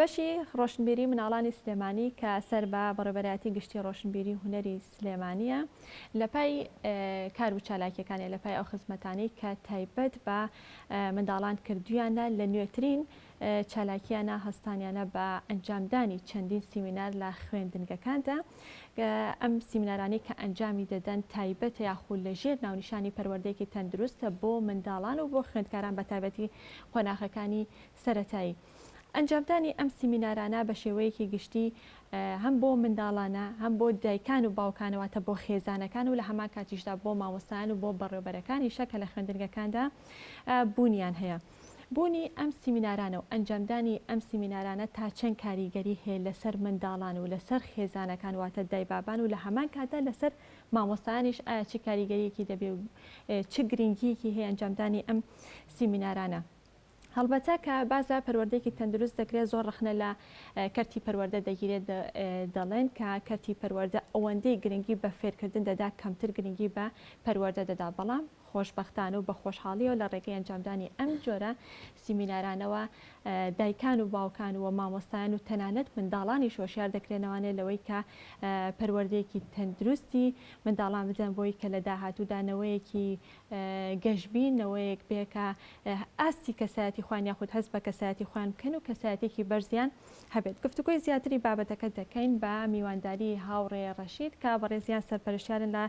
بەشی ڕۆشنبیری مناڵانی سلێمانی کە سەر بە بەڕێبەرایەتی گشتی ڕۆشنبیری هونەری سلێمانیە لە پای کار و چالاکیەکانی لە پای ئەو خزمەتانی کە تایبەت بە منداڵان کردویانە لە نوێترین چالاکیانە هەستانیانە بە ئەنجامدانی چەندین سیمینار لە خوێندنگەکاندا ئەم سیمینارانەی کە ئەنجامی دەدەن تایبەتە یاخود لە ژێر ناونیشانی پەروەردەیەکی تەندروستە بۆ منداڵان و بۆ خوێندکاران بە تایبەتی قۆناخەکانی سەتایی. ئەنجامدانی ئەم سیمینارانە بە شێوەیەکی گشتی هەم بۆ منداڵانە هەم بۆ دایکان و باوکانەوەتە بۆ خێزانەکان و لە هەمان کاتیشدا بۆ مامۆستایان و بۆ بەڕێوبەرەکانیشە کە لە خوێندنگەکاندا بوونیان هەیە. بوونی ئەم سیمینارانە و ئەنجامدانی ئەم سیمینارانە تا چەند کاریگەری هەیە لەسەر منداڵان و لەسەر خێزانەکان واتە دایبابان و لە هەمان کاتدا لەسەر مامۆستایانیش ئایا چ کاریگەریەکی دەبێ و چ گرنگیەکی هەیە ئەنجامدانی ئەم سیمینارانە هەڵبەتە کە باس لە پەروەردەیەکی تەندروست دەکرێت زۆر ڕخنە لە کەرتی پەروەردە دەگیرێت دەڵێن کە کەرتی پەروەردە ئەوەندەی گرنگی بە فێرکردن دەدا کەمتر گرنگی بە پەروەردە دەدا بەڵام خۆشبەختانە و بە خۆشحاڵیەوە لە ڕێگەی ئەنجامدانی ئەم جۆرە سیمینارانەوە دایکان و باوکان و مامۆستایان و تەنانەت منداڵانیش هۆشیار دەکرێنەوانێ لەوەی کە پەروەردەیەکی تەندروستی منداڵان بدەن بۆی کە لە داهاتوودا نەوەیەکی گەشبی نەوەیەک بێکە ئاستی کەسایەتی خوان یاخود هەست بە کەسایەتی خوان بکەن و کەسایەتێکی بەرزیان هەبێت گفتوگۆی زیاتری بابەتەکە دەکەین بە میوانداری هاوڕێ ڕەشید کە بەڕێزیان سەرپەرشتیارن لە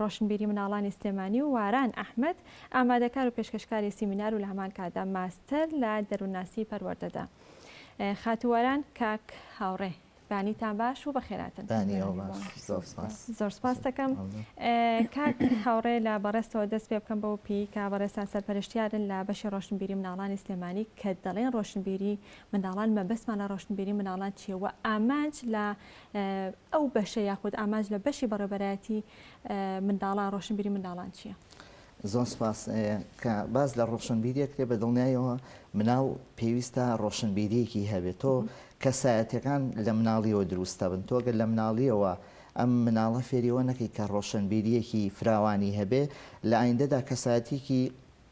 ڕۆشنبیری مناڵانی سلێمانی و واران ئەحمەد ئامادەکار و پێشکەشکاری سیمینار و لە هەمان کاتدا ماستەر لە دەروونناسی پەروەردەدا خاتوو واران کاک هاوڕێ بانیتان باش و بەخێراتن زۆر سپاس دەکەم کاک هاوڕێ لە بەڕێستەوە دەست پێ بکەم بەو پێی کا بەڕێستان سەرپەرشتیارن لە بەشی ڕۆشنبیری مناڵانی سلێمانی کە دەڵێن ڕۆشنبیری منداڵان مەبەستمان لە ڕۆشنبیری منداڵان چییە و ئامانج لە ئەو بەشە یاخود ئامانج لە بەشی بەڕێوبەرایەتی منداڵان ڕۆشنبیری منداڵان چییە؟ زۆر سپاس کە باس لە ڕۆشنبیریە کرێ بە دڵنیایەوە مناڵ پێویستە ڕۆشنبیریەکی هەبێت تۆ کەسایەتەکان لە مناڵیەوە دروستە بن تۆگە لە مناڵیەوە ئەم مناڵە فێریەوە نەکەی کە ڕۆشنبیریەکی فراوانی هەبێ لە ئایندەدا کەسایەتێکی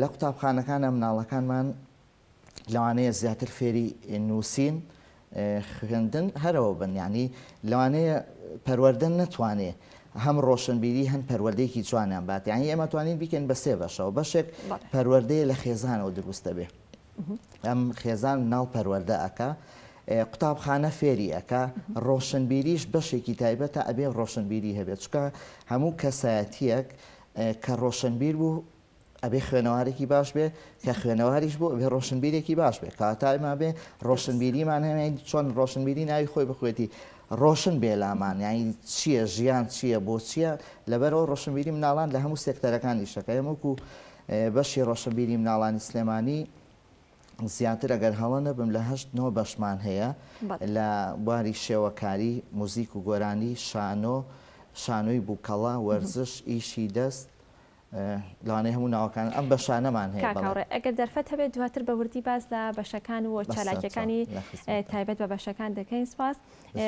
لە قوتابخانەکانە مناڵەکانمان لەوانەیە زیاتر فێری نووسین خوێندن هەرەوە بن یعنی لەوانەیە پەروەەردە نەتوانێ هەم ڕۆشنبیری هەم پەروەردەیەکی جوانیان بات یان ئێمە توانین بیکەین بە سێ بەشەوە بەشێک پەروەردەیە لە خێزانەوە دروست دەبێ ئەم خێزان ناڵ پەروەەردە ئەکا قوتابخانە فێری ئەکا ڕۆشنبیریش بەشێکی تایبەتە ئەبێ ڕۆشنبیری هەبێت چکە هەموو کەسایەتیەک کە ڕۆشنبیر بوو ئەبێ خوێنەوارێکی باش بێ کە خوێنەواریش بۆ ئەبێ ڕۆشنبیرێکی باش بێ کاتایما بێ ڕۆشنبیریمان هەیە چۆن ڕۆشنبیری ناوی خۆی بخوێتی ڕۆشن بێ لامان یعنی چییە ژیان چییە بۆ چییە لەبەرەوە ڕۆشنبیری مناڵان لە هەموو سێکتەرەکانی شەکە هەمووکو بەشی ڕۆشنبیری مناڵانی سلێمانی زیاتر ئەگەر هەڵە نەبم لە هەشت نۆ بەشمان هەیە لە بواری شێوەکاری موزیک و گۆرانی شانۆ شانۆی بووکەڵە وەرزش ئیشی دەست لەوانەیە هەموو ناوەکان ئەم بەشانەمان هەیە. کاک هاوڕێ ئەگەر دەرفەت هەبێت دواتر بە وردی باس لە بەشەکان و چالاکیەکانی تایبەت بە بەشەکان دەکەین سپاس.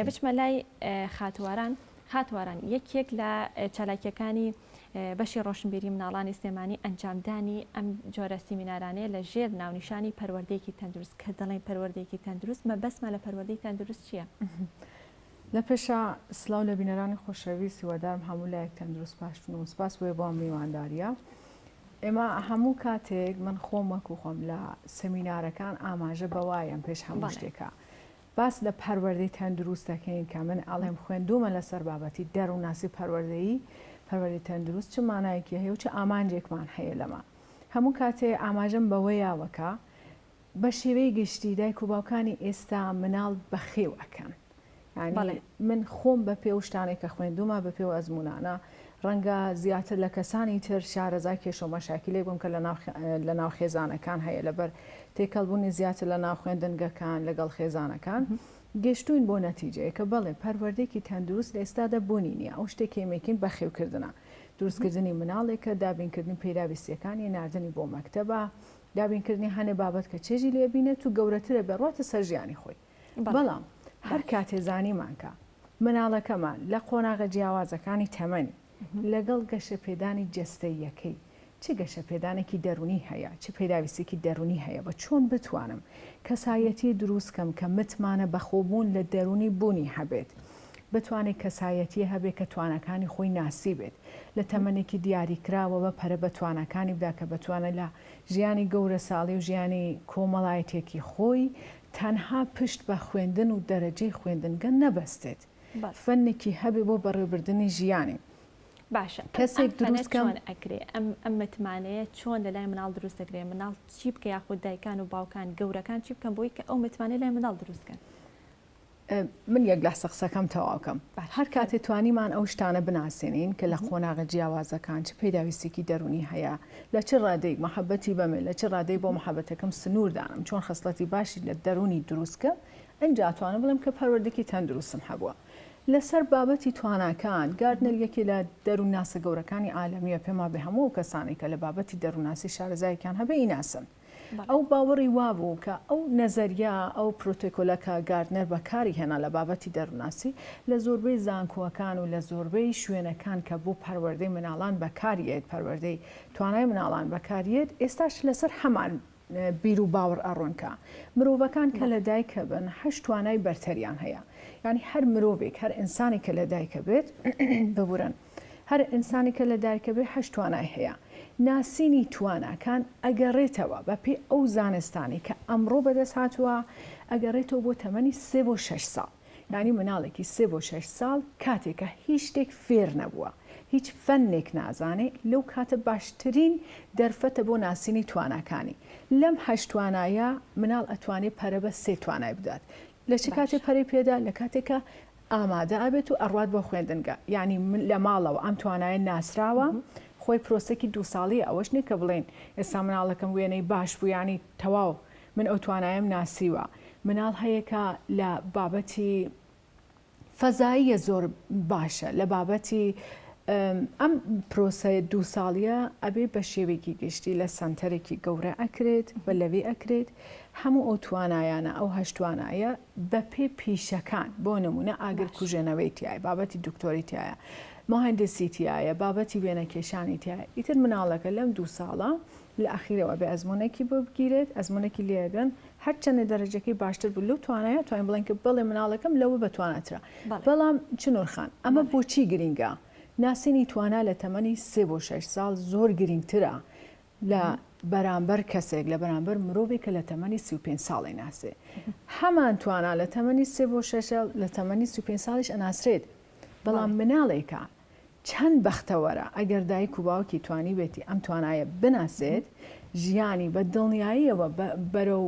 بچمە لای خاتواران خاتواران یەکێک لە چالاکیەکانی بەشی ڕۆشنبیری مناڵانی سلێمانی ئەنجامدانی ئەم جۆرە سیمینارانەیە لە ژێر ناونیشانی پەروەردەیەکی تەندروست کە دەڵێن پەروەردەیەکی تەندروست مەبەسمە لە پەروەردەی تەندروست چییە؟ لە پێشا سلاو لە بینەرانی خۆشەویست هیوادارم هەموو لایەک تەندروست باشبن و سپاس بۆ بۆ میوانداریە ئێمە هەموو کاتێک من خۆم وەکو خۆم لە سەمینارەکان ئاماژە بەوایم پێش هەموو شتێکە باس لە پەروەردەی تەندروست دەکەین کە من ئەڵێم خوێندومە لەسەر بابەتی دەروونناسی پەروەردەیی پەروەردەی تەندروست چ مانایەکی هەیە و چ ئامانجێکمان هەیە لەمە هەموو کاتێ ئاماژەم بەوەیاوەکە بە شێوەی گشتی دایک و باوکانی ئێستا مناڵ بەخێو ئەکەن یانی من خۆم بە پێ و شتانێک کە خوێندومە بە پێ و ئەزمونانە ڕەنگە زیاتر لە کەسانی تر شارەزای کێشە و مەشاکلێک بم کە لە ناو خێزانەکان هەیە لەبەر تێکەڵبوونی زیاتر لە ناو خوێندنگەکان لەگەڵ خێزانەکان گەشتوین بۆ نەتیجەیە کە بەڵێ پەروەردێکی تەندروست لە ئێستادا بوونی نیە ئەو شتێک کێمێکین بەخێوکردە دروستکردنی مناڵێکە دابینکردنی پێداویستیەکانی نردنی بۆ مەکتتەبە دابینکردنی هەنێ بابەت کە چێژی لێ بینێت و گەورەترە بێڕواتە سەر ژیانی خۆی بەڵام هەر کاتێ زانیمان کە مناڵەکەمان لە قۆناغە جیاوازەکانی تەمەنی لەگەڵ گەشە پێدانی جەستەییەکەی چ گەشە پێدانێکی دەرونی هەیە چ پێداویستێکی دەرونی هەیە بە چۆن بتوانم کەسایەتی دروست کەم کە متمانە بەخۆبوون لە دەرونی بونی هەبێت بتوانێت کەسایەتیە هەبێت کە تواناکانی خۆی ناسیبێت لە تەمەنێکی دیاریکراوەوە پەرە بە تواناکانی بدا کە بەتوانە لە ژیانی گەورەساڵی و ژیانی کۆمەڵایەتیەکی خۆی تەنها پشت بە خوێندن و دەرەجەی خوێندنگە نەبەستێت فەنێکی هەبێت بۆ بەڕێوەبردنی ژیانی باشە کەسێک دروست کەم ئەکرێ ئەم ئەم متمانەیە چۆن لە لای مناڵ دروست دەکرێ مناڵ چی بکە یاخود دایکان و باوکان گەورەکان چی بکەم بۆی کە ئەو متمانە لای مناڵ دروستکەن من یەک لەحزە قسەکەم تەواو کەم هەر کاتێ توانیمان ئەو شتانە بناسێنین کە لە قۆناغە جیاوازەکان چ پێداویستێکی دەرونی هەیە لە چ ڕادەیەک مەحەبەتی بەمێ لە چ ڕادەی بۆ مەحەبەتەکەم سنوور دانم چۆن خەسڵەتی باشی لە دەرونی دروست کەم ئەجا توانم بڵێم کە پەروەردەکی تەندروستم هەبووە لەسەر بابەتی تواناکان گاردنەر یەکێ لە دەرونناسە گەورەکانی عالەمیە پێما بێ هەموو ئەو کەسانەی کە لە بابەتی دەرونناسی شارەزایەکیان هەبێ یناسن. ئەو باوەڕی وابوو کە ئەو نەزەریە، ئەو پرۆتۆکۆلە کە گاردنەر بەکاری هێنا لە بابەتی دەروونناسی، لە زۆربەی زانکۆکان و لە زۆربەی شوێنەکان کە بۆ پەروەردەی مناڵان بەکاری یەت، پەروەردەی توانای مناڵان بەکاری یەت، ئێستاش لەسەر هەمان بیر و باوەڕ ئەڕۆن کە مرۆڤەکان کە لە دایک ئەبن هەشت توانای بەرتەریان هەیە. یانی هەر مرۆڤێک، هەر ئینسانێک کە لە دایک ئەبێت، ببورن، هەر ئینسانێک کە لە دایکە بێ هەشت توانای هەیە. ناسینی تواناکان ئەگەڕێتەوە بە پێی ئەو زانستانەی کە ئەمڕۆ بەدەست هاتووە ئەگەڕێتەوە بۆ تەمەنی سێ بۆ شەش ساڵ. یانی مناڵێکی سێ بۆ شەش ساڵ کاتێکە هیچ شتێک فێر نەبووە، هیچ فەنێک نازانێ لەو کاتە باشترین دەرفەتە بۆ ناسینی تواناکانی. لەم هەشت توانایە مناڵ ئەتوانێ پەرە بە سێ توانای بدات. لە چ کاتێ پەرەی پێدا؟ لە کاتێک کە. ئامادە ئەبێت و ئەڕوات بۆ خوێندنگە یانی من لە ماڵەوە ئەم توانایە ناسراوە خۆی پرۆسەکی دوو ساڵی ئەوەش نیە کە بڵێن ئێستا مناڵەکەم وێنەی باش بوو یانی تەواو من ئەو توانایم ناسیوە مناڵ هەیە کە لە بابەتی فەزاییە زۆر باشە لە بابەتی ئەم پرۆسەیە دوو ساڵیە ئەبێ بە شێوێکی گشتی لە سەنتەرێکی گەورە ئەکرێت بە لەوێ ئەکرێت هەموو ئەو توانایانە ئەو هەشتوانایە بەپێی پیشەکان بۆ نموونە ئاگر باش کوژێنەوەی تیایە بابەتی دکتۆری تیایە مهندسی تیایە بابەتی وێنە کێشانی تیایە ئیتر مناڵەکە لەم دوو ساڵە لە ئەخیرەوە ئەبێ ئەزموونێکی بۆ بگیرێت ئەزموونێکی لێ ئەدەن هەرچەندە دەرەجەکەی باشتر بوو لەو توانایە توانین بڵێن کە بەڵێ مناڵەکەم لەوە بە تواناترە بەڵێ بەڵام چنوور خان ئەمە بەڵێ بۆچی گرینگە ناسینی توانا لە تەمەنی سێ بۆ شەش ساڵ زۆر گرینگترە لە بەرامبەر کەسێک، لە بەرامبەر مرۆڤێک کە لە تەمەنی سی و پێنج ساڵی ناسێ. هەمان توانا لە تەمەنی سێ بۆ شەش ساڵ، لە تەمەنی سی و پێنج ساڵیش ئەناسرێت. بەڵام مناڵێکە چەند بەختەوەرە ئەگەر دایک و باوکی توانیبێتی ئەم توانایە بناسێت، ژیانی بە دڵنیاییەوە بەرەو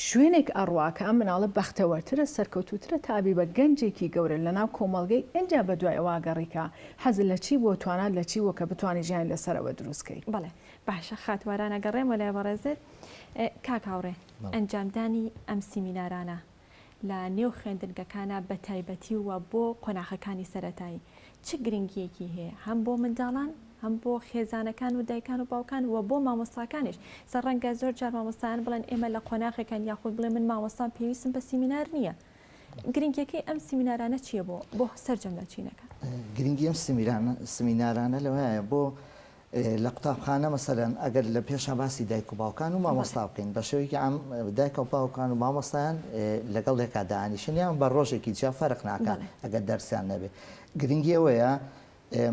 شوێنێک ئەڕوا کە ئەم مناڵە بەختەوەرترە سەرکەوتووترە تا ئەبی بە گەنجێکی گەورە لەناو کۆمەڵگەی ئینجا بەدوای ئەوە ئەگەڕی کە حەزت لە چی بووە توانات لە چی بووە کە بتوانی ژیانی لەسەر ئەوە دروست کەی. بەڵێ باشە خات واران ئەگەڕێمەوە لای بەڕێزت کاک هاوڕێ ئەنجامدانی ئەم سیمینارانە لە نێو خوێندنگەکانا بەتایبەتی و بۆ قۆناخەکانی سەرەتایی چ گرنگییەکی هەیە هەم بۆ منداڵان هەم بۆ خێزانەکان و دایکان و باوکان و بۆ مامۆستاکانیش سە ڕەنگە زۆر جار مامۆستایان بڵێن ئێمە لە قۆناغێکان یاخود بڵێ من مامۆستام پێویستم بە سیمینار نییە گرنگیەکەی ئەم سیمینارانە چییە بۆ بۆ سەرجەم لە چینەکە گرنگی ئەم سیمینارانە لەوەیە بۆ لە قوتابخانە مەسەلەن ئەگەر لە پێشا باسی دایک و باوکان و مامۆستا بکەین بە شێوەیەکی عام دایک و باوکان و مامۆستایان لەگەڵ یەکا دانیشن یان بە ڕۆژێکی جیا فەرق ناکات ئەگەر دەرسیان نەبێت گرنگی ئەوەیە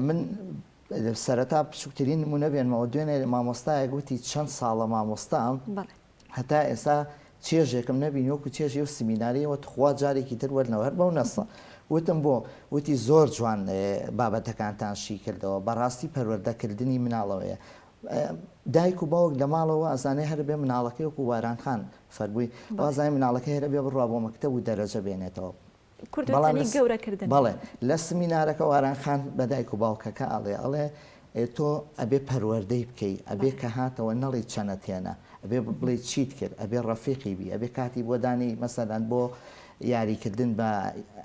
من سەرەتا بچووکترین نمونە بێنمەوە دوێنێ مامۆستایە گوتی چەند ساڵە مامۆستام هەتا ئێستا چێژێکم نەبینی وەکو چێژی ئەو سمیناریەوە تخوا جارێکی تر وەرنەوە هەر بەو نەسە وتم بۆ وتی زۆر جوان بابەتەکانتان شی کردەوە بەڕاستی پەروەردەکردنی مناڵەوەیە دایک و باوک لە ماڵەوە ئەزانێ هەر بێ مناڵەکەی وەکو وارانخان فەربووی وازای مناڵەکە هەرە بێ بڕوا بۆ مەکتتە و دەرەجە بێنێتەوە کورد وتەنی گەورە کردن. بەڵێ لە سمینارەکە واران خان بە دایک و باوکەکە ئەڵێ ئەڵێ تۆ ئەبێ پەروەردەی بکەی ئەبێ کە هاتەوە نەڵی چەنە تێنە ئەبێ بڵێ چیت کرد ئەبێ ڕەفیقی بی ئەبێ کاتی بۆ دانی مەسەدان بۆ یاریکردن بە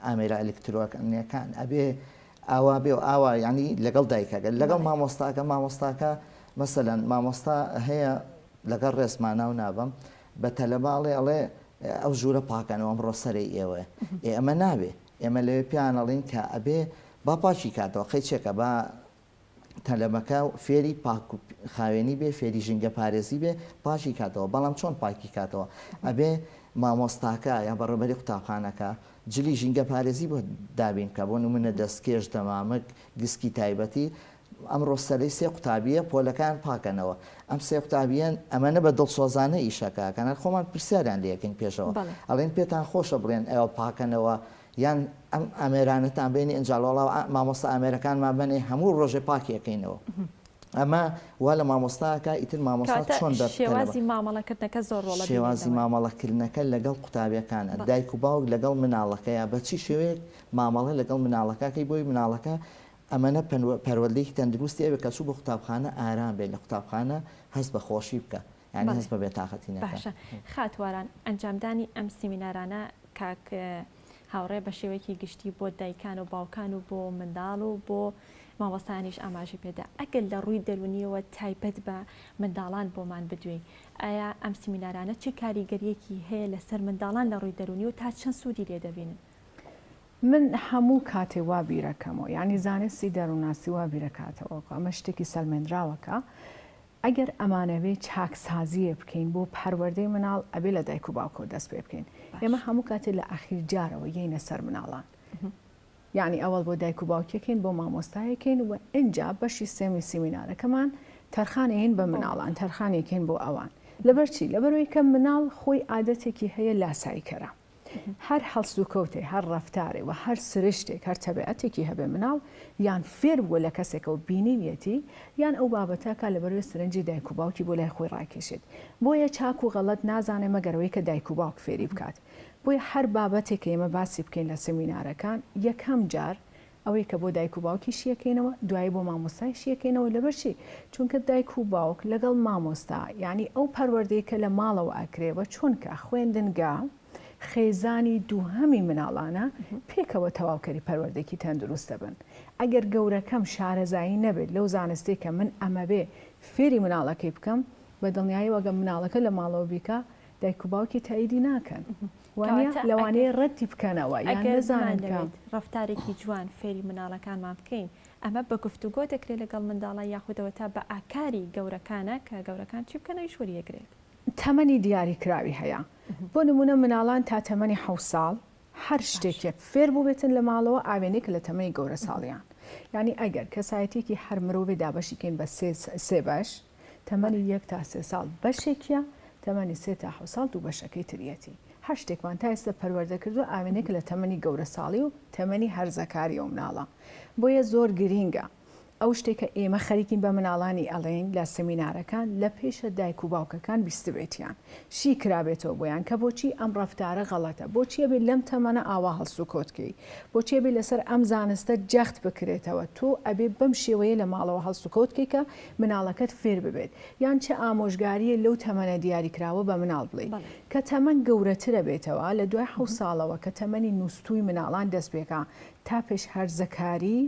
ئامێرە ئەلکترۆکانەکان ئەبێ ئاوا بێ و ئاوا ینی لەگەڵ دایکەکە لەگەڵ مامۆستاکە مامۆستاکە مەسەەن مامۆستا هەیە لەگەڵ ڕێزما ناو نابەم بە تەلەباڵێ ئەڵێ ئەو ژوورە پاکەنەوە ئەمڕۆ سەرەی ئێوەیە ئێ ئەمە نابێ ئێمە لەوێ پێیان ئەڵین کە ئەبێ با پاکی کاتەوە قەی چێکە با تەلەبەکە فێری پاک و خاوێنی بێ فێری ژینگە پارێزی بێ پاکی کاتەوە بەڵام چۆن پاکی کاتەوە ئەبێ مامۆستاکە یا بەڕێبەری قوتابخانەکە جلی ژینگە پارێزی بۆ دابین بکە بۆ نمونە دەستکێش دەمامک گسکی تایبەتی ئەمڕۆ سەرەی سێ قوتابییە پۆلەکان پاکەنەوە، ئەم سێ قوتابییەن ئەمەنە بە دڵسۆزانە ئیشەکە ئەکەن، هەر خۆمان پرسیاریان لێ ئەکەین پێشەوە ئەڵێن پێتان خۆشە بڵێن ئێوە پاکەنەوە یان ئەم ئامێرانەتان بێنی ئەنجا وەڵا مامۆستا ئامێرەکانمان بەنێ هەموو ڕۆژێ پاکی ئەکەینەوە. ئەمە وا لە مامۆستاکە ئیتر مامۆستا چۆن دەربکەنەوە. کەواتە شێوازی مامەڵەکردنەکە زۆر ڕۆڵ دەبینێتەوە. شێوازی مامەڵەکردنەکە لەگەڵ قوتابییەکانە، دایک و باوک لەگەڵ مناڵەکەیە بە چی شێوەیەک مامەڵە لەگەڵ مناڵەکە ئەکەی بۆی مناڵەکە ئەمەنە پەروەردەیەکی تەندروستی ئەوێ کە چوو بۆ قوتابخانە ئارام بێت لە قوتابخانە هەست بە خۆشی بکا یانی هەست بە بێتاقەتی نەکا. باشە خات واران ئەنجامدانی ئەم سیمینارانە کاک هاوڕێ بە شێوەیەکی گشتی بۆ دایکان و باوکان و بۆ منداڵ و بۆ مامۆستایانیش ئاماژەی پێدا ئەگەر لە ڕووی دەرونیەوە تایبەت بە منداڵان بۆمان بدوێی ئایا ئەم سیمینارانە چ کاریگەریەکی هەیە لەسەر منداڵان لە ڕووی دەرونی و تا چەند سوودی لێ دەبینن؟ من هەموو کاتێ وا بیرەکەمەوە یانی زانستی دەرونناسی وا بیرەکاتەوە کە ئەمە شتێکی سەلمێندراوە کە ئەگەر ئەمانەوێ چاکسازیێ بکەین بۆ پەروەردەی مناڵ ئەبێ لە دایک و باوکەوە دەست پێ بکەین ئێمە هەموو کاتێ لە ئاخیر جارەوە یەینە سەر مناڵان یعنی ئەوەڵ بۆ دایک و باوکێکین بۆ مامۆستایەکەین و ئەجا بەشی سێمی سیمینارەکەمان تەرخانەیەین بە مناڵان تەرخانێکین بۆ ئەوان لەبەرچی لەبەرەوەی کە مناڵ خۆی عادەتێکی هەیە لاسایکەرە هەر هەڵسوکەوتێ، هەر ڕەفتارێ و هەر سرشتێک، هەر تەبعەتێکی هەبێ مناڵ یان فێر بووە لە کەسێکە و بینیویەتی، یان ئەو بابەتە کا لەبەروێ سرنجی دایک و باوکی بۆ لای خۆی ڕاکێشێت. بۆیە چاک و غەڵەت نازانێ مەگەر ئەوەی کە دایک و باوک فێری بکات. بۆیە هەر بابەتێک کە ئێمە باسی بکەین لە سمینارەکان یەکەم جار ئەوەی کە بۆ دایک و باوکی شیەکەینەوە دوایی بۆ مامۆستای شیەکەینەوە لەبەرچی چونکە دایک و باوک لەگەڵ مامۆستا یانی ئەو پەروەردەی کە لە ماڵەوە ئەکرێ وە چونکە خوێندنگا خێزانی دووهەمی مناڵانە پێکەوە تەواوکەری پەروەردەکی تەندروست دەبن ئەگەر گەورەکەم شارەزایی نەبێت لەو زانستەی کە من ئەمەوێ فێری مناڵەکەی بکەم بە دڵنیایەوە گەر مناڵەکە لە ماڵەوە بیکا دایک و باوکی تاییدی ناکەن وانە لەوانەیە ڕەتی بکەنەوە یان نەزانن کە ڕفتارێکی جوان فێری مناڵەکانمان بکەین ئەمە بە گفتوگۆ دەکرێت لەگەڵ منداڵە یاخودەوە تا بە ئاکاری گەورەکانە کە گەورەکان چی بکەن ئەویش وەریەگرێت تەمەنی دیاری کراوی هەیە بۆ نمونە مناڵان تا تەمەنی حە ساڵ هەر شتێکێک فێر بووبێتن لە ماڵەوە ئاوێنێک لە تەمەنی گەورە ساڵیان ینی ئەگەر کەسایەتێکی هەر مرۆڤێ دابەشیکەین بە سێ بەش تەمەنی یەک تا سێ ساڵ بەشێکیە، تەمەنی سێ تا حەوت ساڵ دوو بەشەکەی تریەتی. هەر شتێکمان تا ئێستا پەروەردە کردوە ئاوێنەیەکە لە تەمەنی گەورە ساڵی و تەمەنی هەرزەکاری ئەو مناڵە. بۆیە زۆر گرینگە ئەو شتەی کە ئێمە خەریکین بە مناڵانی ئەڵێین لە سمینارەکان لە پێشە دایک و باوکەکان بیستبێتیان. شی کرابێتەوە بۆیان کە بۆچی ئەم ڕەفتارە غەڵەتە، بۆچی ئەبێ لەم تەمەنە ئاوا هەڵسوکەوت کەی، بۆچی ئەبێ لەسەر ئەم زانستە جەخت بکرێتەوە، تۆ ئەبێ بەم شێوەیە لە ماڵەوە هەڵسوکەوت کەی کە مناڵەکەت فێر ببێت، یان چ ئامۆژگارییە لەو تەمەنە دیاریکراوە بە مناڵ بڵێی. کە تەمەن گەورەتر ئەبێتەوە، لە دوای حەوت ساڵەوە کە تەمەنی نوستووی مناڵان دەست پێکا تا پێش هەرزەکاری،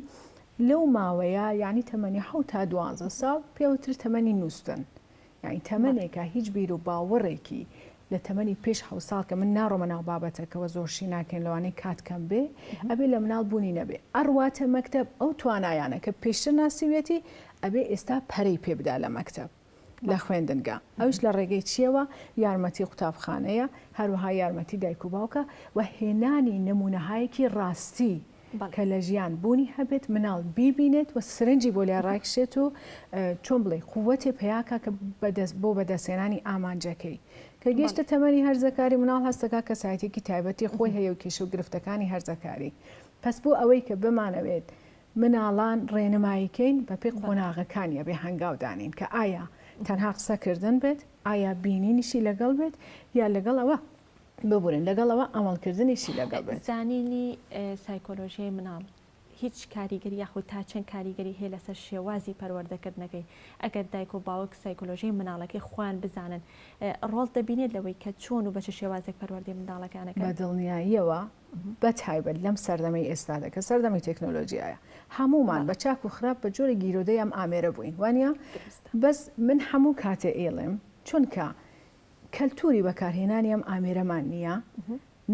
لەو ماوەیە یانی تەمەنی حەوت تا دوانزە ساڵ پێوترێ تەمەنی نوستن، یانی تەمەنێکە هیچ بیرو باوەڕێکی لە تەمەنی پێش حەوت ساڵ کە من ناڕۆمە ناو بابەتەکەوە زۆر شی ناکەین لەوانەیە کات کەم بێ ئەبێ لە مناڵ بوونی نەبێ ئەڕواتە مەکتەب ئەو توانایانە کە پێشتر ناسیویەتی ئەبێ ئێستا پەرەی پێ بدا لە مەکتەب لە خوێندنگا ئەوش لە ڕێگەی چیەوە یارمەتی قوتابخانەیە هەروەها یارمەتی دایک و باوکە و هێنانی نمونەهایەکی ڕاستی کە لە ژیان بوونی هەبێت مناڵ بیبینێت و سرنجی بۆ لای ڕایکشێت و چۆن بڵێ قووەێ پیاکە کە بۆ بەدەستێنانی ئامانجەکەی کە گەشتە تەمەنی هەرزەکاری مناڵ هەستەکە کەسایەتێکی تایبەتی خۆی هەیە و کێش و گرفتەکانی هەرزەکاری پس بۆ ئەوەی کە بمانەوێت مناڵان ڕێنماییکەین بەپی قۆناغەکانیە بێ هەنگاودانین کە ئایا تەنها قسەکردن بێت ئایا بینینیشی لەگەڵ بێت یا لەگەڵ ئەوە ببورن لەگەڵ ئەوە ئەمەڵکردنیشی لەگەڵ بێت. زانینی سایکۆلۆژیای مناڵ هیچ کاریگەری یاخود تا چەند کاریگەری هەیە لەسەر شێوازی پەروەردەکردنەکەی ئەگەر دایک و باوک سایکۆلۆژیای مناڵەکەی خۆیان بزانن ڕۆڵ دەبینێت لەوەی کە چۆن و بە چ شێوازێک پەروەردەی منداڵەکانەکە بە دڵنیاییەوە بە تایبەت لەم سەردەمەی ئێستادا کە سەردەمی تەکنۆلۆژیایە هەمومان بە چاک و خراپ بە جۆری گیرۆدەی ئەم ئامێرە بووین وانە بەس من هەموو کاتێ ئێڵێم چونکە کەلتووری بەکارهێنانی ئەم ئامێرەمان نییە،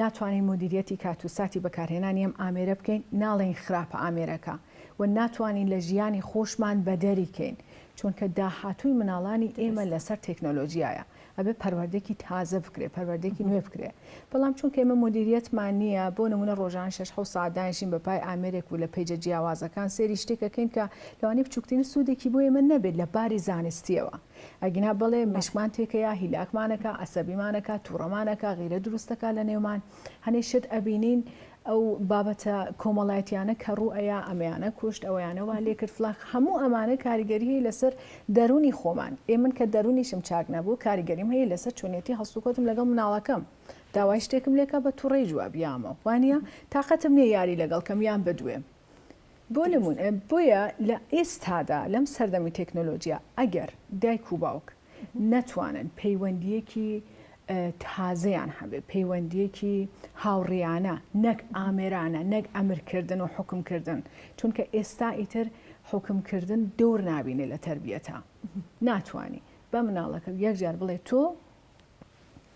ناتوانین مودیرییەتی کات و ساتی بەکارهێنانی ئەم ئامێرە بکەین، ناڵێین خراپە ئامێرەکە و ناتوانین لە ژیانی خۆشمان بەدەری کەین، چونکە داهاتووی مناڵانی ئێمە لەسەر تێکنۆلۆژیایە، ئەبێ پەروەردەێکی تازە بکرێ، پەروەردەێکی نوێ بکرێ، بەڵام چونکە ئێمە مودیرییەتمان نییە، بۆ نموونە ڕۆژانە شەش حەوت سەعات دانیشین بە پای ئامێرێک و لە پەیجە جیاوازەکان سێری شتێک ئەکەین کە لەوانەیە بچووکترین سوودێکی بۆ ئێمە نەبێت لە باری زانستییەوە. ئەگینا بەڵێ مێشکمان تێکەیە، هیلاکمان ئەکا، عەسەبیمان ئەکا، تووڕەمان ئەکا، غیرە دروست ئەکا لە نێومان، هەنێ شت ئەبینین ئەو بابەتە کۆمەڵایەتییانە کە ڕوو ئەیا ئەمەیانە کوشت، ئەوەیانە وا لێ کرد فڵان، هەموو ئەمانە کاریگەری هەیە لەسەر دەروونی خۆمان، ئێ من کە دەروونیشم چاک نەبوو کاریگەریم هەیە لەسەر چۆنیەتی هەڵسوکەوتم لەگەڵ مناڵەکەم، داوای شتێکم لێ کا بە تووڕەی جواب یامەوە، وانیە؟ تاقەتم نییە یاری لەگەڵ کەم یان بدوێم. بۆ نموونە بۆیە لە ئێستادا لەم سەردەمی تەکنۆلۆجیا ئەگەر دایک و باوک نەتوانن پەیوەندیەکی تازەیان هەبێ پەیوەندیەکی هاوڕیانە نەک ئامێرانە نەک ئەمرکردن و حکمکردن چونکە ئێستا ئیتر حکمکردن دور نبینێ لە تربیەتە ناتانی بە مناڵەکە یەکجار بڵێ تۆ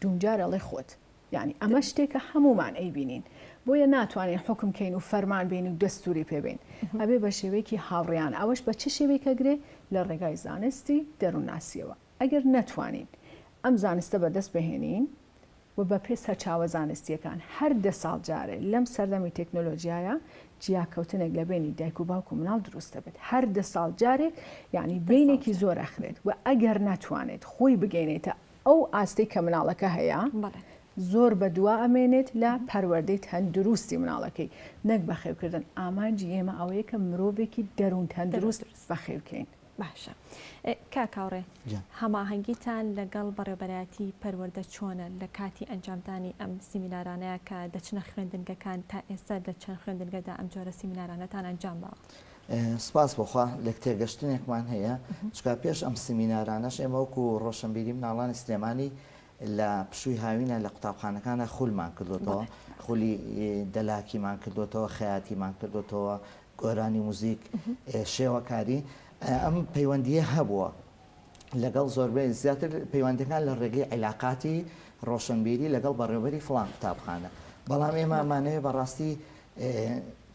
دووجار ئەڵێ خۆت. یانی ئەمە شتێکە هەموومان ئەیبینین بۆیە ناتوانین حکم کەین و فەرمان بین و دەستوری پێبین ئەبێ بە شێوەیەکی هاوڕیان ئەوەش بە چ شێوەیەکە گرێ لە ڕێگای زانستی دەروونناسیەوە ئەگەر نەتوانین ئەم زانستە بەدەست بهێنین و بە پێ سەرچاوە زانستیەکان هەر دە ساڵ جارێ لەم سەردەمی تەکنۆلۆژیایە جیاکەوتنێک لە بەینی دایک و باوک و مناڵ دروست دەبێت هەر دە ساڵ جارێک یانی بینێکی زۆر ئەخرێت و ئەگەر ناتوانێت خۆی بگەینێتە ئەو ئاستەی کە مناڵەکە هەیە زۆر بە دوا ئەمێنێت لە پەروەردەی تەندروستی مناڵەکەی نەک بەخێوکردن ئامانجی ئێمە ئەوەیە کە مرۆڤێکی دەروون تەندروست بەخێوکەین. باشە کاک هاوڕێ هەماهەنگیتان لەگەڵ بەڕێوبەرایەتی پەروەردە چۆنە لە کاتی ئەنجامدانی ئەم سیمینارانەیا کە دەچنە خوێندنگەکان تا ئێستا لە چەند خوێندنگەدا ئەم جۆرە سیمینارانەتان ئەنجام باوە؟ سپاس بۆ خوا لێکتێگەشتنێکمان هەیە چکا پێش ئەم سیمینارانەش ئێمە وەکو ڕۆشنبیری مناڵانی سلێمانی لە پشووی هاوینە لە قوتابخانەکانە خولمان کردوتەوە خولی دەلاکیمان کردوتەوە خەیاتیمان کردوتەوە گۆرانی موزیک شێوەکاری ئەم پەیوەندیە هەبووە لەگەڵ زۆربەی زیاتر پەیوەندەکان لە ڕێگەی عیلاقاتی ڕۆشنبیری لەگەڵ بەڕێوبەری فلان قوتابخانە بەڵام ئێمامانەیە بەڕاستی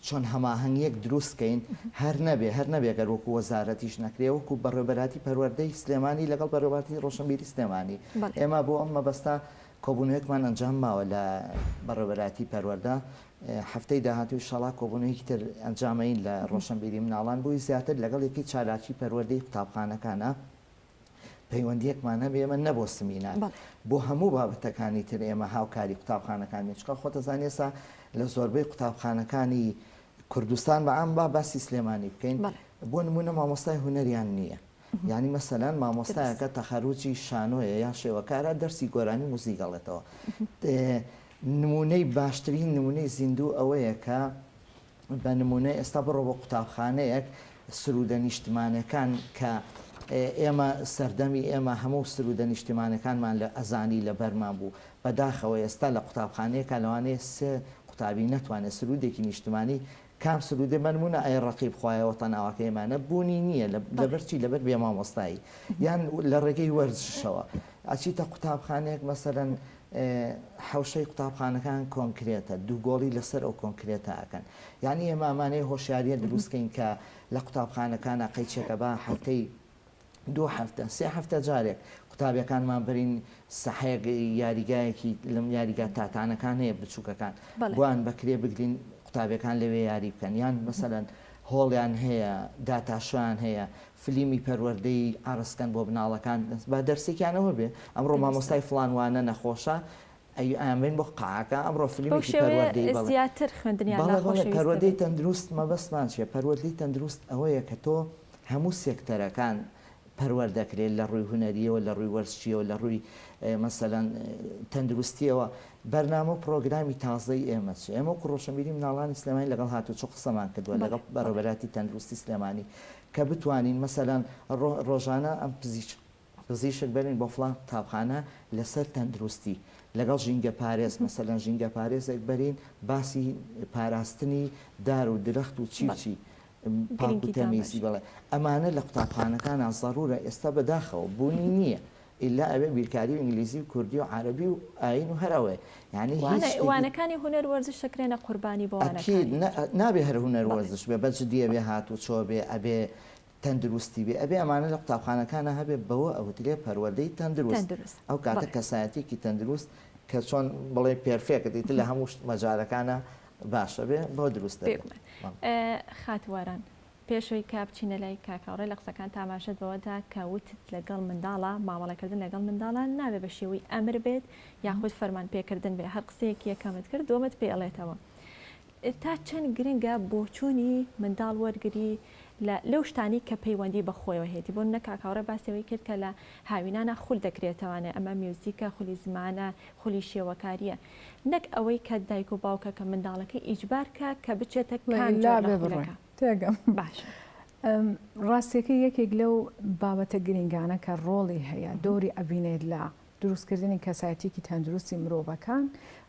چۆن هەماهنگیەک دروستکەین هەر نەبێ هەر نەبێگەر وەکو وەزارەتیش نەکرێ وەکو بەڕێبەراتی پەروەەردەی سلێمانی لەگەڵ بەرەباتی ڕۆشنبیری سلێمانی ئێمە بۆ ئەم مەبەستا کۆبوونەوەکمان ئەنجام ماوە لە بەڕێبەراتی پەروەەردە هەفتەی داهاتوو ئیشاڵا کۆبوونەوەیەکی تر ئەنجامەین لە ڕۆشنبیری مناڵان بۆی زیاتر لەگەڵ یەکەی چالاکی پەروەردەی قوتابخانەکانە پەیوەندیەکمان هەبێ ئێمە نە بۆ سمینار بۆ هەموو بابەتەکانی تر ئێمە هاوکاری قوتابخانەکان بین چکە خۆتەزان ئێسا لە زۆربەی قوتابخانەکانی کوردستان بە ئەم با باسی سلێمانی بکەین بۆ نمونە مامۆستای هونەریان نییە یانی مەسەلەن مامۆستایەکە تەخەروجی شانۆیە یان شێوەکارە دەرسی گۆرانی موزیک ئەڵێتەوە نمونەی باشترین نمونەی زیندوو ئەوەیە کە بە نمونە ئێستا بڕۆ بۆ قوتابخانەیەک سرودە نیشتمانەکان کە ئێمە سەردەمی ئێمە هەموو سرودە نیشتمانەکانمان لە ئەزانی لە بەرمان بوو بەداخەوە ئێستا لە قوتابخانەیەکە لەوانەیە سێ قوتابی نەتوانێت سرودێکی نیشتمانی کام سرودە بەنمونە ئەی ڕەقیب خوایە وەتەن ئاواکەی ئێمانە بوونی نییە لەبەر چی لەبەر بێ مامۆستایی یان لە ڕێگەی وەرزشەوە ئەچیتە قوتابخانەیەک مەسەرەن حوشەی قوتابخانەکان کۆنکرێتە دووگۆڵی لەسەر ئەو کۆنکرێتەکەن یعنی ئێمامانەی هۆشیاریە دروستکەین کە لە قوتابخانەکانە قەیچەکە بە هەفتەی دوو هەفتە سێ هەفتە جارێک قوتابیەکانمان بەرین سەحێک یاریگایەکی لەم یاریگا تاتانەکان هەیە بچووکەکان بۆیان بەکرێ بگرین قوتابیەکان لەوێ یاری بکەن یان مەسەەن هۆڵیان هەیە داتاشویان هەیە فلیمی پەروەردەی ئارسکەن بۆ بناڵەکان با دەرسێکیانەوە بێ ئەمڕۆ مامۆستای فلانوانە نەخۆشە ئەی ئەیان بەین بۆ قاعەکە ئەمڕۆ فلیمێکی پەروەردەی بەڵێ زیاتر خوێندنیان بەڵێ بەڵێ ناخۆشەویست پەروەردەی دەبێت. تەندروست مەبەستمان چیە پەروەردەی تەندروست ئەوەیە کە تۆ هەموو سێکتەرەکان پەروەر دەکرێت لە ڕووی هونەریەوە لە ڕووی وەرزشیەوە لە ڕووی مەسەلەن تەندروستیەوە بەرنامە و پڕۆگرامی تازەی ئێمە چیە ئێمە وەکو ڕۆشنبیری مناڵانی سلێمانی لەگەڵ هاتوچۆ قسەمان کردوە بەڵێ لەگەڵ بەڕێوەبەراتی تەندروستی سلێمانی کە بتوانین مەسەلەن ڕۆ ڕۆژانە ئەم پزیشک پزیشک بەرن بۆ فڵان قوتابخانە لەسەر تەندروستی لەگەڵ ژینگەپارێز مەسەلەن ژینگەپارێزێک بەرین باسی پاراستنی دار و درەخت و چی و چی پاک و تەمیزی بڵێ ئەمانە لە قوتابخانەکانە زەڕورە ئێستا بەداخەوە بوونی نییە ئللا ئەوێ بیرکاری و ئینگلیزی و کوردی و عربی و ئاین و هەر ئەوێ یعنی وانەکانی هونەر وەرزش شکرێنە قوربانی بۆ نابێ هەر هونەر وەرزش بێ بەجدیە بێ هاتوو چۆ بێ ئەبێ تەندروستی بێ ئەبێ ئەمانە لە قوتابخانەکانا هەبێ بەوە ئەوترێ پەروەردەی تەندروست ئەو کاتە کەسایەتیەکی تەندروست کە چۆن بڵێ پێرفێکت ئیتر لە هەموو شت مەجالەکانا باشە بێ بەوە دروست دەبێت. خات واران پێشەوەی کە بچینە لای کاک هاوڕێ لە قسەکانت ئاماژەت بەوەدا کە وتت لەگەڵ منداڵا مامەڵەکردن لەگەڵ منداڵا نابێ بە شێوەی ئەمر بێت یاخود فەرمانپێکردن بێ هەر قسەیەک یەکەمت کرد دووەمت پێ ئەڵێتەوە تا چەند گرنگە بۆچوونی منداڵ وەرگری لە لەو شتانەی کە پەیوەندی بە خۆیەوە هەیەتی بۆ نمونە کاک هاوڕێ باسی ئەوەی کرد کە لە هاوینانا خول دەکرێتەوانێ ئەمە میوزیکە خولی زمانە خولی شێوەکاریە نەک ئەوەی کە دایک و باوکەکە منداڵەکەی ئیجبار کا کە بچێتە کام جۆر لە خولەکە تێگەم باشە. ڕاستەکەی یەکێک لەو بابەتە گرینگانە کە ڕۆڵی هەیە دۆری ئەبینێت لە دروستکردنی کەسایەتیەکی تەندروستی مرۆڤەکان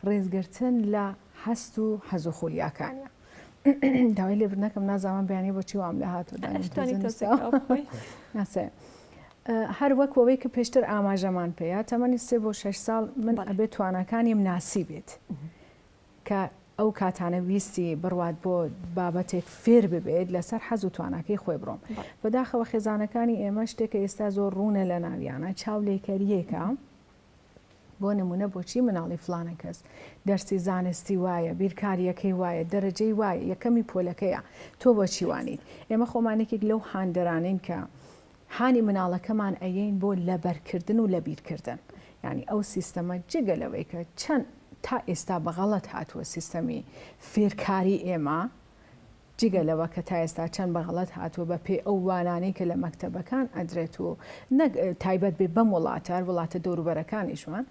ڕێزگرتن لە هەست و حەز و خولیاکانە داوای لێبر نەکەم نازانم بەیانی بۆچی وام لە هاتو ناسێ هەر وەک ئەوەی کە پێشتر ئاماژەمان پێەیە تەمەنی سێ بۆ شش ساڵ من ئەبێت توانەکانیم ناسی بێت. کە ئەو کاتانە ویستی بڕوات بۆ بابەتێک فێر ببێت لەسەر حەز و تواناکەی خۆی بڕۆم بەداخەوە خێزانەکانی ئێمە شتێکە ئێستا زۆر ڕوونە لە ناویانە چاو لێکەریەکە بۆ نمونە بۆچی مناڵی فلانە کەس دەرسی زانستی وایە بیرکاریەکەی وایە دەرەجەی وایە یەکەمی پۆلەکەیە تۆ بۆچیوانیت ئێمە خۆمانێکێک لەو هاندەرانین کە هانی مناڵەکەمان ئەیەین بۆ لەبەرکردن و لەبیرکردن یانی ئەو سیستەمە جگە لەوەی کە چەند تا ئێستا بە غەڵەت هاتووە سیستەمی فێرکاری ئێمە جگە لەوە کە تا ئێستا چەند بە غەڵەت هاتووە بە پێی ئەو وانانەی کە لە مەکتەبەکان ئەدرێت و نەک تایبەت بێ بەم وڵاتە هەر وڵاتە دەوروبەرەکانیشمان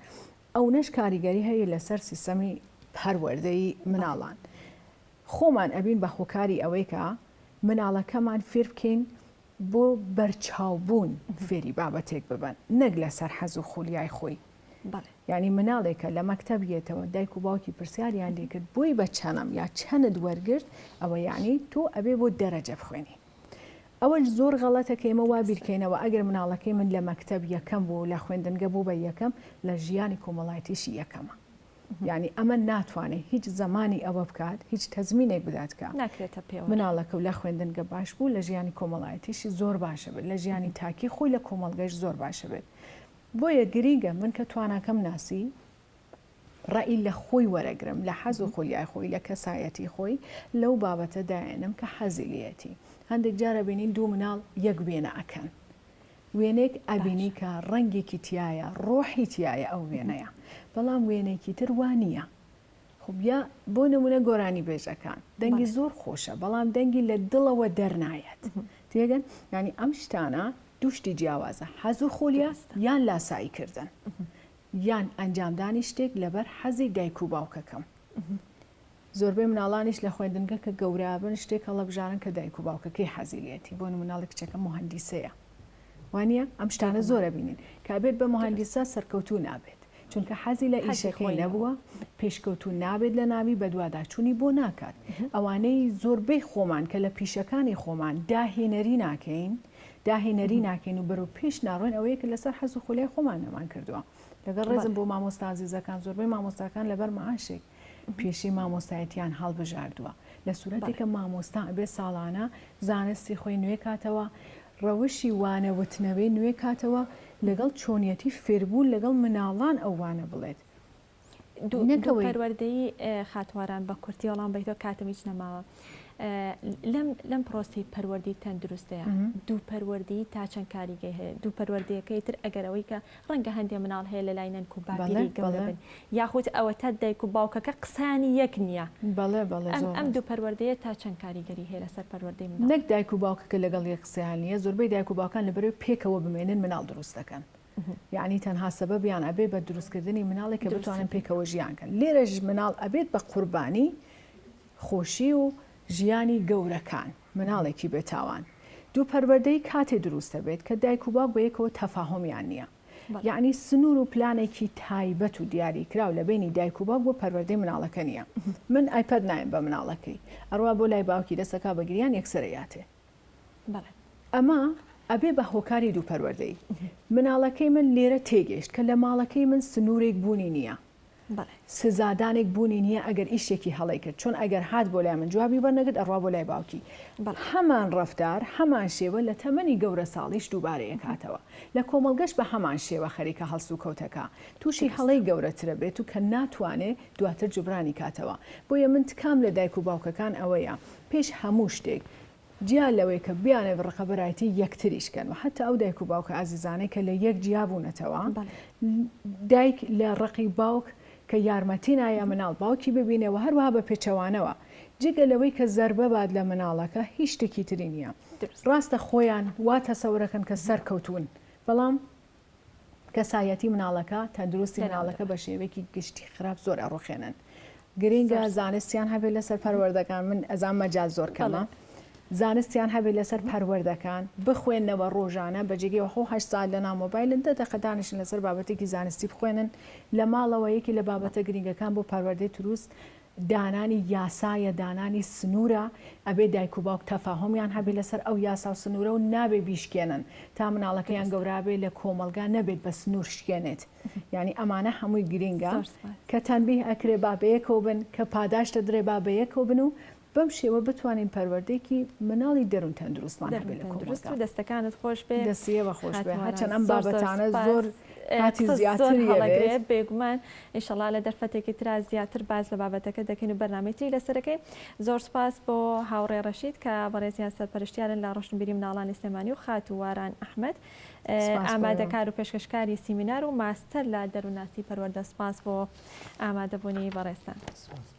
ئەونەش کاریگەری هەیە لەسەر سیستەمی پەروەردەی مناڵان خۆمان ئەبین بە هۆکاری ئەوەی کە مناڵەکەمان فێر بکەین بۆ بەرچاو بوون فێری بابەتێک ببن نەک لەسەر حەز و خولیای خۆی یعنی مناڵێکە لە مەکتب یێتەوە دایک و باوکی پرسیاریان لێکرد بۆی بە چەنم یا چەند وەرگرت ئەوە یعنی تۆ ئەبێ بۆ دەرەجە بخوێنی ئەوەش زۆر غەڵەتە کە ئێمە وا بیرکەینەوە ئەگەر مناڵەکەی من لە مەکتب یەکەم بوو لە خوێندنگە بوو بە یەکەم لە ژیانی کۆمەڵایتیشی یەکەمە یانی ئەمە ناتوانێت هیچ زەمانی ئەوە بکات هیچ تەزمینێک بدات کە ناکرێتە پێ مناڵەکە و لە خوێندنگە باش بوو لە ژیانی کۆمەڵایەتیشی زۆر باشە بێت لە ژیانی تاکی خۆی لە کۆمەلگەش زۆر باشە بێت بۆیە گرینگە من کە تواناکەم ناسی ڕئی لە خۆی وەرەگرم لە حەز و خۆلیای خۆی لە کەسایەتی خۆی لەو بابەتە دایێنم کە حەزیلەتی هەندێک جارە بینین دوو مناڵ یەک وێنە ئەکەن وێنەیەک ئەبینی کە ڕەنگێکی تیایە ڕۆحی تیایە ئەو وێنەیە بەڵام وێنەیەکی تر وا نییە خب یا بۆ نمونە گۆرانی بێژەکان دەنگی زۆر خۆشە بەڵام دەنگی لە دڵەوە دەرنایەت تێگەن ینی ئەم شتانە دوشتی جیاوازە حەزو خۆلیاست یان لاسایی کردن یان ئەنجامدانی شتێک لەبەر حەزی دایک و باوکەکەم زۆربەی مناڵانیش لە خوێندنگە کە گەورابن شتێک هەڵەبژارن کە دایک و باوکەکەی حەزی لێتی بۆ نموناڵی کچەکەم موهەندیسەیە وانیە ئەم شتانە زۆر ئەبینین کابێت بە موهەندیسە سەرکەوتوو نابێت چونکە حەزی لە ئیشەکەی نەبووە پێشکەوتوو نابێت لە ناوی بەدواداچوونی بۆ ناکات ئەوانەی زۆربەی خۆمان کە لە پیشەکانی خۆمان داهێنەری ناکەین داهێنەری ناکەین و بەرەو پێش ناڕۆین ئەوەیە کە لەسەر حەز و خولای خۆمان نەمان کردووە لەگەڵ ڕێزم بۆ مامۆستازیزەکان زۆربەی مامۆستاکان لەبەر معاشێک پیشەی مامۆستایەتیان هەڵبژاردووە لە سورەتی کە مامۆستا ئەبێ ساڵانە زانستی خۆی نوێ کاتەوە ڕەوشی وانە وتنەوەی نوێ کاتەوە لەگەڵ چۆنیەتی فێربوون لەگەڵ مناڵان ئەو وانە بڵێت دوو پەروەردەی خاتواران بە کورتی وەڵام بەیتۆ کاتم هیچ نەماوە لەم پرۆسی پەروەردی تەندروستەیە دوو پەروەردی تا چەند کاریگەی هەیە دوو پەروەردەکەی تر ئەگەرەوەی کە ڕەنگە هەندێ مناڵ هەیە لە لای نەنک و باپیری گەڵبن یاخود ئەوە تا دایک و باوکەکە قسانی یەک نییە بەڵێ بەڵێ ئەم دوو پەروەردەیە تا چەند کاریگەری هەیە لەسەر پەروەردەی من نەک دایک و باوکەکە لەگەڵ یە قسەیان نیە زۆربەی دایک و باوکان لەبەرەوەی پێکەوە بمێنن مناڵ دروست دەکەن یەعنی تەنها سەبەبیان ئەبێ بە دروستکردنی مناڵێک کە بتوانن پێکەوە ژیان کەن لێرەش مناڵ ئەبێت بە قوربانی خۆشی و ژیانی گەورەکان مناڵێکی بێتاوان دوو پەروەردەی کاتێ دروست دەبێت کە دایک و باوک بە یەکەوە تەفاهمیان نییە یعنی سنوور و پلانێکی تایبەت و دیاری کراو لە بینی دایک و باوک بۆ پەروەردەی مناڵەکە نییە من ئایپەد نایم بە مناڵەکەی ئەڕوا بۆ لای باوکی دەسەکە بەگریان یەکسەرەیاتێ بەڵێ ئەمە ئەبێ بە هۆکاری دوو پەروەردەیی. مناڵەکەی من لێرە تێگەیشت کە لە ماڵەکەی من سنوورێک بوونی نییە. بەڵێ. سزادانێک بوونی نییە ئەگەر ئیشێکی هەڵەی کرد. چۆن ئەگەر هات بۆ لای من جوابی وەرنەگرت ئەڕوا بۆ لای باوکی. بەڵێ. هەمان ڕەفتار، هەمان شێوە لە تەمەنی گەورەساڵیش دووبارە ئەکاتەوە. لە کۆمەڵگەش بە هەمان شێوە خەریکە هەڵسوکەوتەکە تووشی هەڵەی گەورەترە بێت و کە ناتوانێ دواتر جوبرانی کاتەوە. بۆیە من تکام لە دایک و باوکەکان ئەوەیە پێش هەموو شتێک جیا لەوەی کە بیانەوێت ڕقەبەرایەتی یەکتریش کەن و حەتا ئەو دایک و باوکە ئازیزانەی کە لە یەک جیا بوونەتەوە، دایک لە ڕقی باوک کە یارمەتی نایە مناڵ باوکی ببینێ و هەروەها بە پێچەوانەوە، جگە لەوەی کە زەربە بات لە مناڵەکە هیچ شتێکی تری نییە. ڕاستە خۆیان وا تەسەورەکەن کە سەرکەوتوون، بەڵام کەسایەتی مناڵەکە تەندروستی مناڵەکە بە شێوەیەکی گشتی خراپ زۆر ئەڕوخێنن گرنگە زانستیان هەبێت لەسەر پەروەردەکان من ئەزان مەجا زۆر کەمە زانستیان هەبێت لەسەر پەروەردەکان بخوێنەوە ڕۆژانە بەجێگەی وەخۆ هە سال لە نامۆبایلن دە دەقەدانشن لەسەر بابەتێکی زانستی بخوێنن لە ماڵەوە یەکی لە بابەتە گرنگەکان بۆ پەروەردەی تروست دانانی یاسایە دانانی سنورە ئەبێ دایک و باوک تەفاهومیان هەبێ لەسەر ئەو یاسا و سنورە و نابێ بیشکێنن تا مناڵەکە یان گەورابێ لە کۆمەڵگا نەبێت بە سنور شکێنێت یانی ئەمانە هەمووی گرینگە کە تەنبیه ئەکرێ با بەیەکەوە بن کە پاداشت ئەدرێ با بەیەکەوە بن و بەم شێوە بتوانین پەروەردەیەکی مناڵی دەرون تەندروستمان هەبێ لە کۆمەڵگا. دەستەکانت خۆش بێ. دەستی ئێوە خۆش بێ هەرچەند ئەم بابەتانە زۆر کاتی زیاتری ئەوێت. بێگومان ئیشەڵا لە دەرفەتێکی ترا زیاتر باس لە بابەتەکە دەکەین و بەرنامەی تری لەسەر دەکەین. زۆر سوپاس بۆ هاوڕێ ڕەشید کە بەڕێزیان سەرپەرشتیارن لە ڕۆشنبیری مناڵانی سلێمانی و خاتوو واران ئەحمەد سپاس بۆ ئێوە. ئامادەکار و پێشکەشکاری سیمینار و ماستەر لە دەروونناسی پەروەردە سپاس بۆ ئامادەبوونی بەڕێزتان. سپاس.